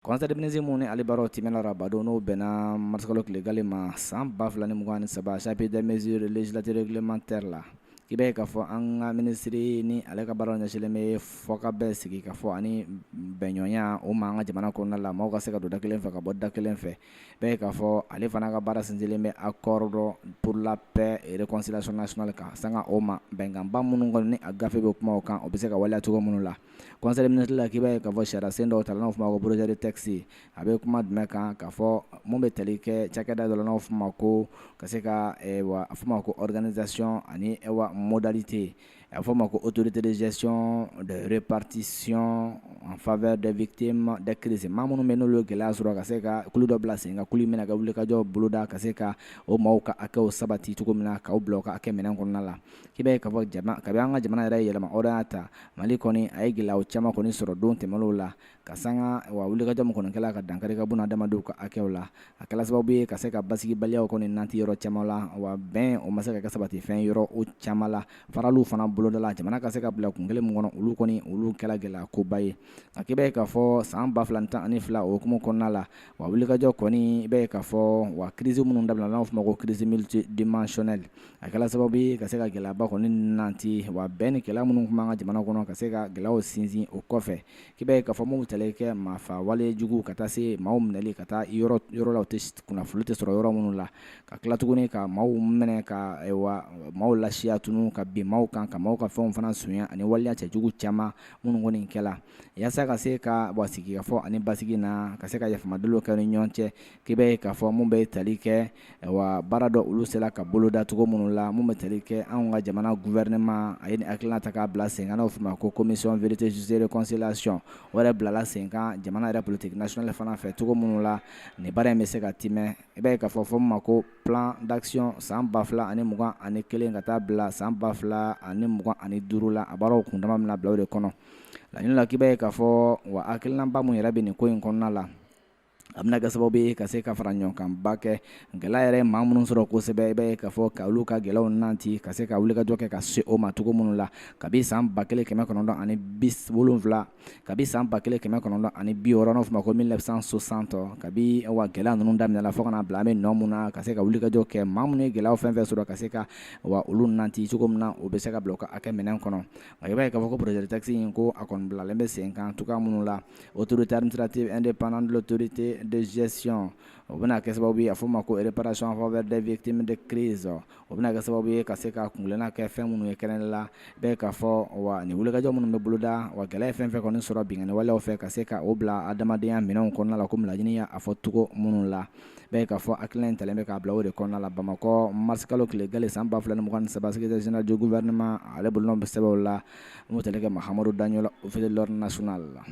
Conseil des ministres min ni ale baaraw tɛmɛna araba don n'o bɛnna marisikalo tile galen ma san ba fila ni mugan ni saba chapitre des mesures législatives et réglementaires la i b'a ye k'a fɔ an ka minisiri ni ale ka baara ɲɛsilen bɛ fɔkabɛn sigikafɔ ani bɛnɲɔgɔnya o ma an ka jamana kɔnɔna la maaw ka se ka don da kelen fɛ ka bɔ da kelen fɛ i b'a ye k'a fɔ ale fana ka baara sinsinnen bɛ accord de pour la paix réconciliation nationale kan sanga o ma bɛnkanba minnu kɔni ni a gafe bɛ kuma kan o bɛ se ka waleya cogo minnu la conseil des ministres la k'i b'a ye k'a fɔ sariyasen dɔw ta n'aw tuma ma ko projet de texte a bɛ kuma jumɛn kan k'a fɔ minnu bɛ tali kɛ cakɛda dɔ n'aw tuma ma ko ka se ka wa a ma ko organisation ani wa modalités yen a fɔ' ma ko Autorité de gestion de répartition en faveur des victimes de crise maa minnu bɛ n'o gɛlɛya sɔrɔ ka se ka kulu dɔ bila sen kan kulu min bɛ ka wulikajɔ boloda ka se ka o maaw ka hakɛw sabati cogo min na k'aw bila ka kɛ minɛn kɔnɔna la k'i b'a ye k'a fɔ ka an ka jamana yɛrɛ ɲɛmaaw y'a ta Mali kɔni a ye gɛlɛya caman kɔni sɔrɔ don tɛmɛnenw la ka sanga wa wulikajɔ minnu kɔni kɛra ka dankari ka bɔnɛ adamadenw ka hakɛw la a kɛla sababu ye ka se ka basibaliya kɔni nati yɔrɔ caman la wa bɛn o ma se ka sabati fɛn yɔrɔ o caman la faraliw fana bolodala jamana ka se ka bila kun kelen min kɔnɔ olu kɔni olu kɛra gɛlɛya koba ye a k'i b'a ye k'a fɔ san ba fila tan ani fila hukumu kɔnɔna la wa wulikajɔ kɔni i b'a ye k'a fɔ wa crise minnu da n'aw tun ma ko crise multidimensionnelle a kɛra sababu ye ka se ka gɛlɛyaba kɔni nati wa bɛɛ ni kɛlɛ minnu tun' ka jamana kɔnɔ ka se ka gɛlɛya sinsin o kɔfɛ i b'a ye k'a fɔ maaw ta kɛ maa fa walejugu ka taa se maaw minɛli ka taa yɔrɔ yɔrɔ tɛ kunnafoni tɛ sɔrɔ yɔrɔ minnu la ka tila tuguni ka maaw minɛ ka maaw lasiran tun ka bin maaw kan ka maaw ka fɛnw fana sonya ani waleya cɛjugu caman minnu kɔni kɛla walasa ka se ka wa sigikafɔ ani basi na ka se ka yafa Malidenw kɛ ni ɲɔgɔn cɛ k'i b'a ye k'a fɔ minnu bɛ tali kɛ wa baara dɔ olu sera ka boloda cogo minnu la minnu bɛ tali kɛ anw ka jamana gouvernement a ye nin hakilila ta k'a bila senkan n'o tun ma ko Commission vérité justice et réconciliation o yɛrɛ bilala senkan jamana yɛrɛ politique nationale fana fɛ cogo minnu la nin baara in bɛ se ka tɛmɛ i b'a ye k'a fɔ fɔ ma ko plan d'action san ba fila ani mugan ani kelen ka taa bila san ba fila ani mugan ani duuru la a baaraw kundama min na bila de kɔnɔ laɲini na k'i b'a ye k'a fɔ wa hakilinaba minnu yɛrɛ bɛ nin ko in kɔnɔna la a bɛna kɛ sababu ye ka se ka faraɲɔgɔnkanba kɛ gɛlɛya yɛrɛ maa minnu sɔrɔ kosɛbɛ i b'a ye k'a fɔ ka olu ka gɛlɛya nati ka se ka wulikajɔ kɛ ka se o ma cogo minnu la ka bɛn san ba kelen kɛmɛ kɔnɔntɔn ani bi wolonwula ka bɛn san ba kelen kɛmɛ kɔnɔntɔn ani bi wɔɔrɔ fana ma ko mille neuf cent soixante ka wa gɛlɛya ninnu daminɛla fo ka na bila bɛ don min na ka se ka wulikajɔ kɛ maa minnu ye gɛlɛya fɛn fɛn sɔrɔ ka se ka wa olu nati cogo min na o bɛ se ka bila ka kɛ minɛn kɔnɔ i b'a ye k'a fɔ ko projet de texte in ko a kɔni bilalen bɛ sen kan cogoya minnu la Autorité administrative indépendante de l'autorité de gestion o bɛna kɛ sababu ye a fɔ ma ko réparation en faveur des victimes de crise o bɛna kɛ sababu ye ka se ka kunna kɛ fɛn minnu ye kɛrɛn ne la bɛɛ ka fɔ wa nin wulikajɔ minnu bɛ boloda wa gɛlɛya fɛn fɛn kɔni sɔrɔ binwalew fɛ ka se ka o bila adamadenya minɛn kɔnɔna la ko minnadiya a fɔ cogo minnu la bɛɛ ka fɔ hakili kelen ta bɛ ka bila o de kɔnɔna la bamakɔ marisikalo tile gale san 2 ni mugan ni saba secrétaire général du gouvernement ale bolo bɛ sɛbɛnbɛ la n'o tɛ kɛ Mahamadou Dagno officier de l'ordre national